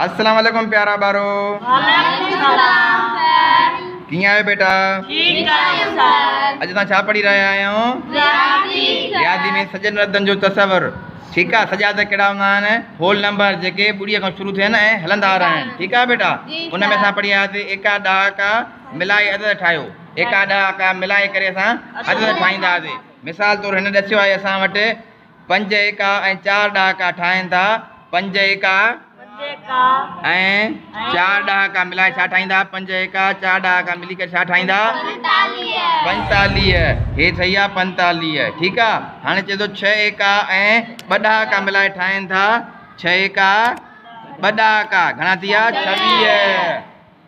السلام عليڪم پيارا ٻارو وعليڪم السلام سر ڪيئن آهيو بيٽا ٺيڪ آهيون سر اڄ تان ڇا پڙهي رهيا آهيو رياضي رياضي ۾ سجن ردن جو تصور ٺيڪ آهي سجا ته ڪهڙا هوندا آهن هول نمبر جيڪي ٻڙي کان شروع ٿين ۽ هلندا رهن ٺيڪ آهي بيٽا ان ۾ اسان پڙهي آياسي ايڪا ڏهاڪا ملائي عدد ٺاهيو ايڪا ڏهاڪا ملائي ڪري اسان عدد ٺاهينداسي مثال طور هن ڏسيو آهي اسان وٽ پنج ايڪا ۽ چار ڏهاڪا ٺاهين ٿا. پنج ايڪا ۽ چار ڏهاڪا ملائي ڇا ٺاهيندا؟ پنج ايڪا چار ڏهاڪا ملي ڪري ڇا ٺاهيندا؟ پنجتاليهه. هي صحيح آهي پنجتاليهه. ٺيڪ آهي. هاڻي چئي ٿو ڇهه ايڪا ۽ ٻه ڏهاڪا ملائي ٺاهين ٿا. ڇهه ايڪا ٻه ڏهاڪا گهڻا ٿي ويا؟ ڇويهه.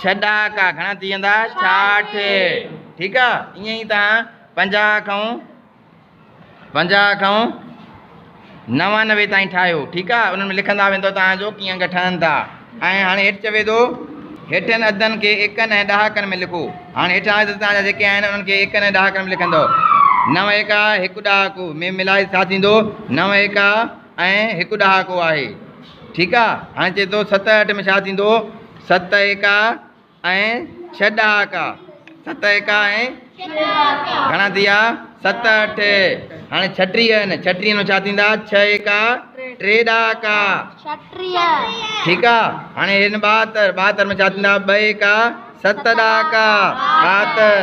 ڇهه ڏهاڪا گهڻا ٿي ويندا شاٺ ٺيڪ آ ائين ئي تان پنجاهه کان پنجاهه کان نوانوي تائين ٺاهيو ٺيڪ آ انهن ۾ لکندا ويندو تان جو ڪيئن انگ ٺهن ٿا ۽ هاڻي هيٺ چوي ٿو هيٺن عددن کي ايڪن ۽ ڏهاڪن ۾ لکو هاڻي هيٺان عدد تان جا جيڪي آهن انهن کي ايڪن ۽ ڏهاڪن ۾ لکندو نو ايڪا هڪ ڏهاڪو ۾ ملائي ڇا ٿيندو نو ايڪا ۽ هڪ ڏهاڪو آهي. ٺيڪ آ. هاڻي چئي ٿو ست ۽ اٺ ۾ ڇا ٿيندو؟ ست ايڪا ۽ ڇهه ڏهاڪا. ست ايڪا ۽ گهڻا ٿي ويا؟ ست اٺ. هاڻي ڇٽيهه آهن. ڇٽيهه ۾ ڇا ٿيندا؟ ڇهه ايڪا ٽي ڏهاڪا. ٺيڪ آ. هاڻي هي آهن ٻاهتر. ٻاهتر ۾ ڇا ٿيندا؟ ٻه ايڪا ست ڏهاڪا. ٻاهتر.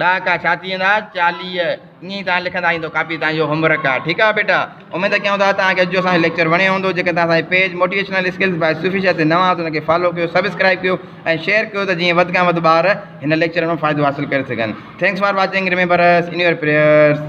ڏهاڪا ڇا ٿي ويندا چاليهه ائين ئي توهان لکندا هي تو ڪاپي توهان جو هوم ورڪ آهي ٺيڪ آهي بيٽا اميد ڪيون ٿا توهان کي اڄ جو اسان جو ليڪچر وڻيو هوندو جيڪڏهن توهان اسان جي page motivational skills by Sufi Shah تي نوان آهيو ته ان کي فالو ڪيو سبسڪرائب ڪيو ۽ شيئر ڪيو ته جيئن وڌ کان وڌ ٻار هن ليڪچر مان فائدو حاصل ڪري سگهن thanks for watching remember us in your prayers